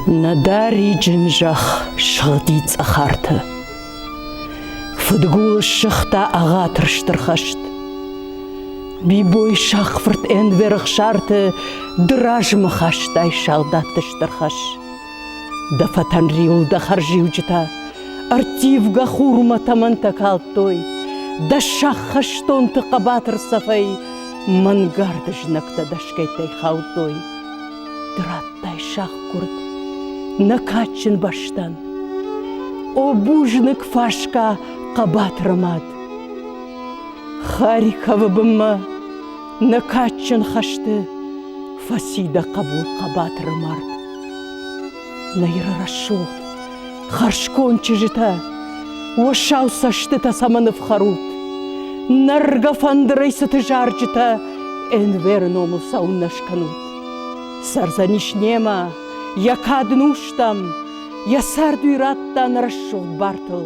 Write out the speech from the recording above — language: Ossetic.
Нӕдӕ риджын зӕхх сыгъди цӕхӕрты. Фыдгул ссыгъта ӕгъатыр стыр хӕст. Бибой сахфырт ӕнверых сарты ды размӕ хастай салдатты стыр хӕс. Дӕ фӕтӕн риуыл дӕ хӕрзиуджытӕ ӕрттивгӕ хурмӕ тӕмӕнтӕ калдтой, дӕ сӕххӕстонты хъӕбатыр цӕфӕй мӕнгард знӕгтӕ дӕсгӕйттӕй хаудтой. Ды радтай сахъгуырд нӕ кадджын бӕстӕн. О, бузныг фасгӕ хъӕбатыры мад! Харьковы бынмӕ Нӕ кадджын хӕсты фӕци дӕ хъӕбул хъӕбатыры мард. Нӕйры рӕсугъд, хӕрзконд чызджытӕ, уӕ сау цӕстытӕ цӕмӕн ӕфхӕрут? Нӕргӕ фӕндырӕй цыты зарджытӕ Энверы номыл сауыннӕ скӕнут. Сӕрдзӕнис немӕ, йӕ кад нустӕм, йӕ цард уый радта нӕ рӕсугъд бартыл.